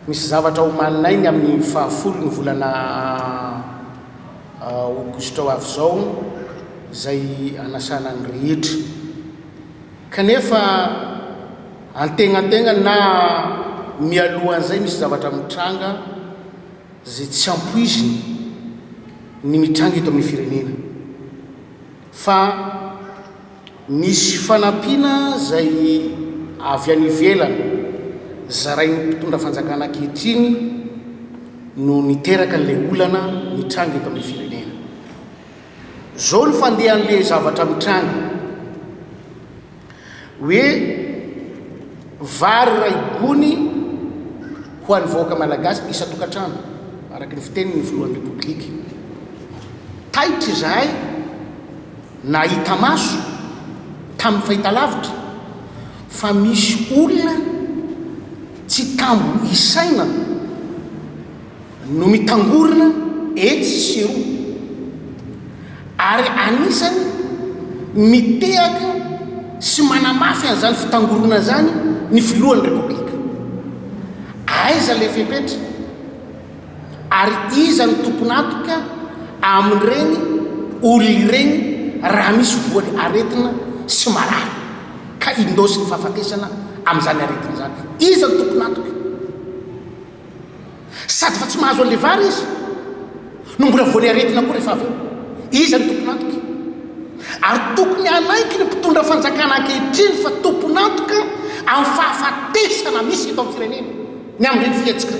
Misy zavatra omaninay ny amin'ny fahafolo ny volana aogositra ho avy izao izay anasana ny rehetra. Kanefa antegnantegnany na mialohan'izay misy zavatra mitranga izay tsy ampoiziny ny mitranga eto amin'ny firenena fa misy fanampiana izay avy any ivelany zarain'ny mpitondra fanjakana ankehitriny no niteraka an'ilay olana mitranga eto amin'ny firenena. Zao ny fandehan'le zavatra mitranga hoe vary iray gony ho an'ny vahoaka malagasy isan-tokantrano araka ny fitenin'ny filohan'ny Repoblika. Taitra izahay nahita maso tamin'ny fahitalavitra fa misy olona tsy tambo isaina no mitangorona etsy sy eroa ary anisany mitehaka sy manamafy an'izany fitangorona izany ny filohan'ny Repoblika. Aiza ilay fepetra ary iza no tompon'antoka amin'ireny olona ireny raha misy voan'ny aretina sy marary ka indôsin'ny fahafatesana amin'izany aretina izany? Iza no tompon'antoka? Sady fa tsy mahazo an'ilay vary izy no mbola voan'ny aretina koa rehefa avy eo. Iza no tompon'antoka? Ary tokony hanaiky ny mpitondra fanjakana ankehitriny fa tompon'antoka amin'ny fahafatesana misy eto amin'ny firenena ny amin'ireny fihetsika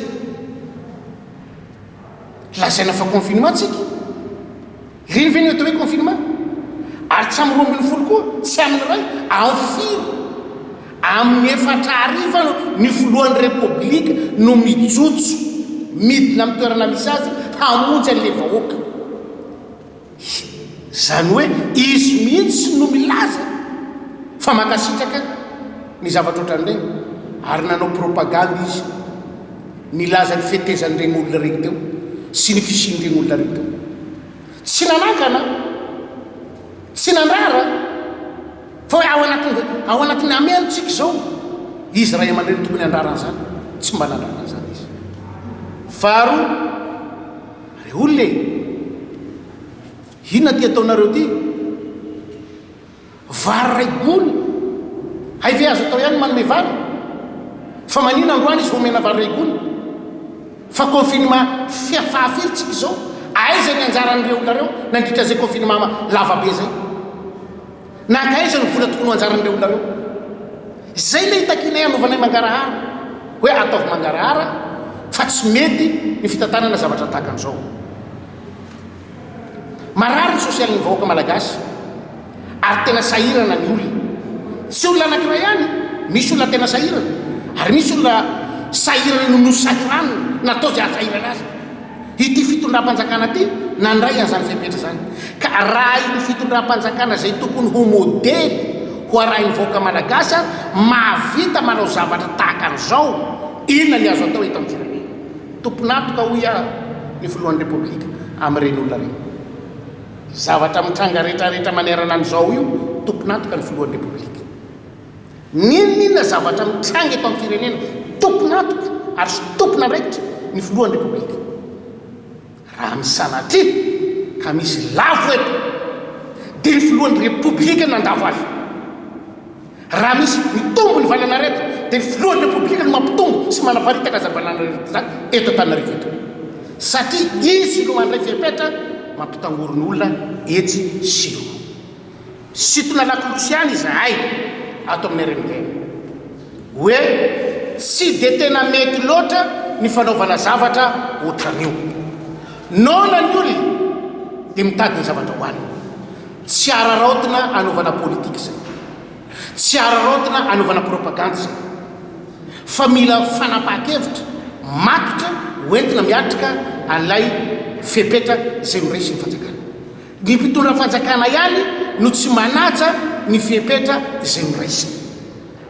lazaina fa confinement tsika. Revenue atao hoe confinement ary tsy amin'ny roa ambin'ny folo koa tsy amin'ny iray amin'ny firy amin'ny efatra hariva ny filohan'ny repoblika no mijotso midina amin'ny toerana misy azy hamonjy an'ilay vahoaka izany hoe izy mihitsy no milaza fa mankasitraka ny zavatra ohatran'ireny ary nanao propagande izy Nilaza ny fetezan'ireny olona ireny teo sy ny fisian'ireny olona ireny teo. Tsy nanakana, tsy nandrara, fa hoe ao anatin'ny, ao anatin'ny amen tsika izao. Izy ray aman-dreny no tokony handrara an'izany, tsy mba nandrara an'izany izy. Faharoa, re olona e, inona ity ataonareo ity? Vary iray gony? Hay ve azo atao ihany ny manome vary? Fa manina androany izy vao omena vary iray gony? Fa confinement fia fahafiry tsika izao? Aiza ny anjaran'ireo olona ireo nandritra izay confinement lava be izay? Nankaiza ny vola tokony ho anjaran'ireo olona ireo? Izay ilay itakianay hanovanay mangarahara, hoe ataovy mangarahara fa tsy mety ny fitantanana zavatra tahaka an'izao. Marary ny sosialin'ny vahoaka malagasy ary tena sahirana ny olona. Tsy olona anankiray ihany, misy olona tena sahirana ary misy olona sahirana noho ny ho sahiraniny natao izay haha-sahirana azy. Ity fitondram-panjakana ity nandray an'izany fepetra izany ka arahin'ny fitondram-panjakana izay tokony ho modely ho arahin'ny vahoaka malagasy ary mahavita manao zavatra tahaka an'izao. Inona ny azo atao eto amin'ny firenena? Tompon'antoka hoy aho ny filohan'ny Repoblika amin'ireny olona ireny. Zavatra mitranga retraretra manerana an'izao io tompon'antoka ny filohan'ny Repoblika. N'inon'inona zavatra mitranga eto amin'ny firenena tompon'antoka ary tompon'andraikitra ny filohan'ny Repoblika. Raha ny sanatria ka misy lavo eto dia ny filohan'ny repoblika no handavo azy. Raha misy mitombo ny valan'aretina dia ny filohan'ny repoblika no mampitombo sy manaparitaka izany valan'aretina izany eto Antananarivo eto. Satria izy no mandray fepetra mampitangorona olona etsy sy eroa. Sitona lakolosy ihany izahay ato amin'ny reniteny. Hoe tsy dia tena mety loatra ny fanaovana zavatra ohatran'io. Noana ny olona dia mitady ny zavatra hohanina. Tsy araraotina anaovana politika izay. Tsy araraotina anaovana propagandy izay. Fa mila fanapahan-kevitra matotra hoentina miatrika an'ilay fepetra izay noresin'ny fanjakana. Ny mpitondra fanjakana ihany no tsy manaja ny fepetra izay noraisiny.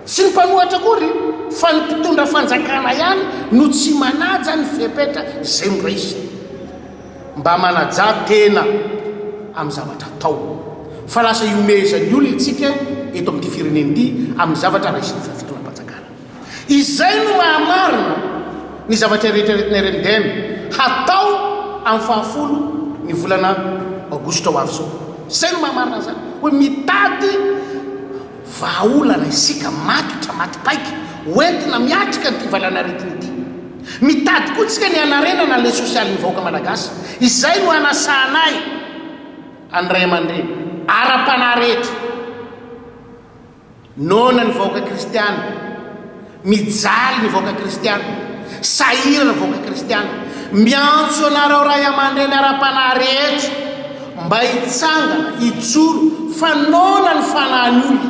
Tsy ny mpanohatra akory fa ny mpitondra fanjakana ihany no tsy manaja ny fepetra izay noraisiny. Mba manajà tena amin'ny zavatra atao fa lasa ihomehezan'ny olona isika eto amin'ity firenena ity amin'ny zavatra raisin'ny fitondram-panjakana. Izay no maha-marina ny zavatra eritreretin'i Erendem hatao amin'ny fahafolo ny volana aogositra ho avy izao. Izay no maha-marina an'izany hoe mitady vahaolana isika matotra, matipaika, hoentina miatrika an'ity valanaretina ity. Mitady koa isika ny hanarenana an'ilay sosialin'ny vahoaka malagasy. Izay no anasahanay an'ny ray aman-dreny ara-panahy rehetra. Noana ny vahoaka kristiana. Mijaly ny vahoaka kristiana. Sahirana ny vahoaka kristiana. Miantso anareo ray aman-dreny ara-panahy rehetra mba hitsangana, hijoro fa noana ny fanahin'ny olona.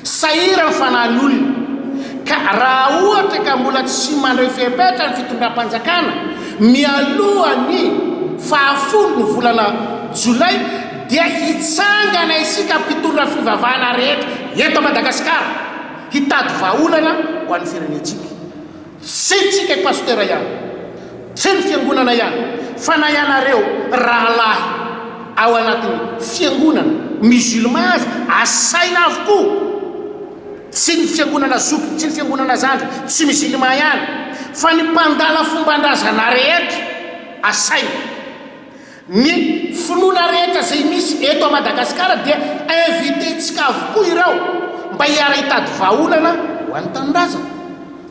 Sahirana ny fanahin'ny olona. Ka raha ohatra ka mbola tsy mandray fepetra ny fitondram-panjakana mialoha ny faha folo ny volana jolay, dia hitsangana isika mpitondra fivavahana rehetra eto Madagasikara hitady vahaolana ho an'ny firenentsika. Tsy tsika i Pasitera ihany, tsy ny fiangonana ihany fa na ianareo rahalahy ao anatin'ny fiangonana musulman aza asaina avokoa. Tsy ny fiangonana zoky, tsy ny fiangonana zandry tsy musulman ihany fa ny mpandala fombandrazana rehetra asaina. Ny finoana rehetra izay misy eto à Madagascar dia invité ntsika avokoa ireo mba hiara hitady vahaolana ho an'ny tanindrazana.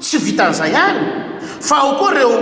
Tsy vitan'izay any fa ao koa ireo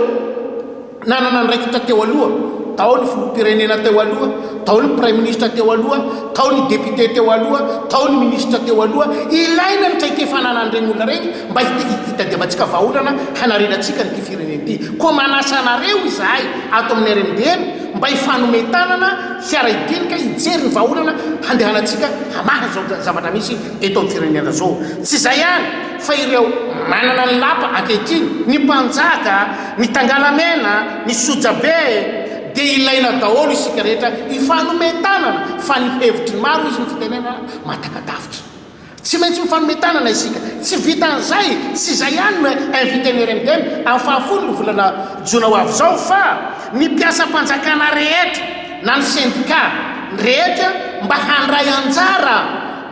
nanana andraikitra teo aloha, tao ny filoham-pirenena teo aloha, tao ny praiminisitra teo aloha, tao ny député teo aloha, tao ny minisitra teo aloha. Ilaina ny traikefa ananan'ireny olona ireny mba hitadiavantsika vahaolana hanarenantsika an'ity firenena ity. Koa manasa anareo izahay. ato amin'ny RMDM mba hifanome tanana hiara hidinika hijery ny vahaolana handehanantsika hamaha izao zavatra misy eto amin'ny firenena izao. Tsy izay ihany fa ireo manana ny lapa ankehitriny, ny mpanjaka, ny tangalamena, ny sojabe dia ilaina daholo isika rehetra hifanome tanana fa ny hevitry ny maro hoy izy ny fitenenana mahatakadavitra. Tsy maintsy mifanome tanana isika. Tsy vitan'izay, tsy izay ihany no inviten'ny RMDM amin'ny fahafolo ny volana jona ho avy izao fa ny mpiasam-panjakana rehetra na ny sendika rehetra mba handray anjara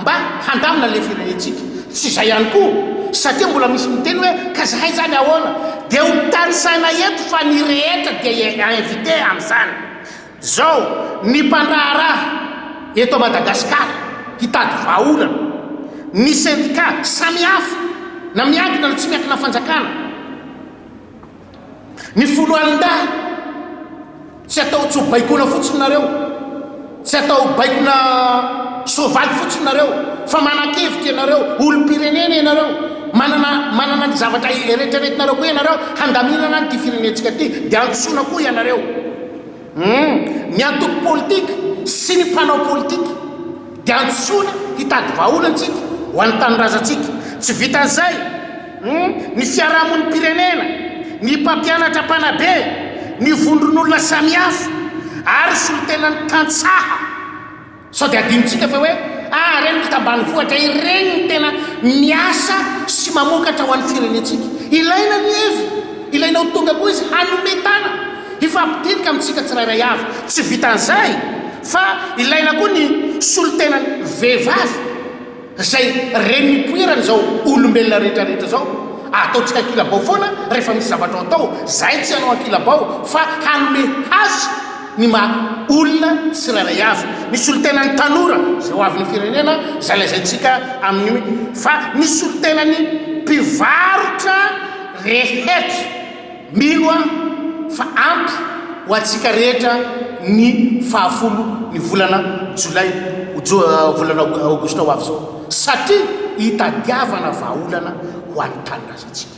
mba handamina ilay firenentsika. Tsy izay ihany koa satria mbola misy miteny hoe ka zahay izany ahoana? Dia ho tanisaina eto fa ny rehetra dia invite amin'izany. Zao ny mpandraharaha eto Madagascar hitady vahaolana, ny sendika samihafa na miankina na tsy miankina fanjakana, ny foloalindahy tsy atao tso baikona fotsiny nareo, tsy atao baikona soavaly fotsiny nareo fa manakevitra ianareo, olompirenena ianareo, manana manana ny zavatra eretreretinareo koa ianareo handaminana an ity firenentsika ity, de antsoina koa ianareo. Humm, ny antoko politika sy ny mpanao politika dia antsoina hitady vahaolantsika ho an'ny tanindrazantsika. Tsy vitan'izay, humm, ny fiarahamonim-pirenena, ny mpampianatra mpanabe, ny vondron'olona samihafa ary solontenan'ny tantsaha. Sao dia adinontsika fa hoe ah ireny mpita ambanivohitra ireny no tena miasa sy mamokatra ho an'ny firenentsika. Ilaina ny hevi, ilaina ho tonga koa izy hanome tana, hifampidinka amintsika tsirairay avy. Tsy vitan'izay fa ilaina koa ny solontenan'ny vehivavy. Izay reny nipoirany izao olombelona rehetra rehetra izao ataontsika kilabao foana rehefa misy zavatra ho atao, izay tsy hanao an-kilabao fa hanome hasy ny maha olona tsirairay avy. Ny solontenan'ny tanora izay ho avin'ny firenena izay lazaintsika amin'io fa ny solontenan'ny mpivarotra rehetra. Mino aho fa ampy ho antsika rehetra ny fahafolo ny volana jolay, volana aogositra ho avy izao, satria hitadiavana vahaolana ho an'ny tanindrazantsika.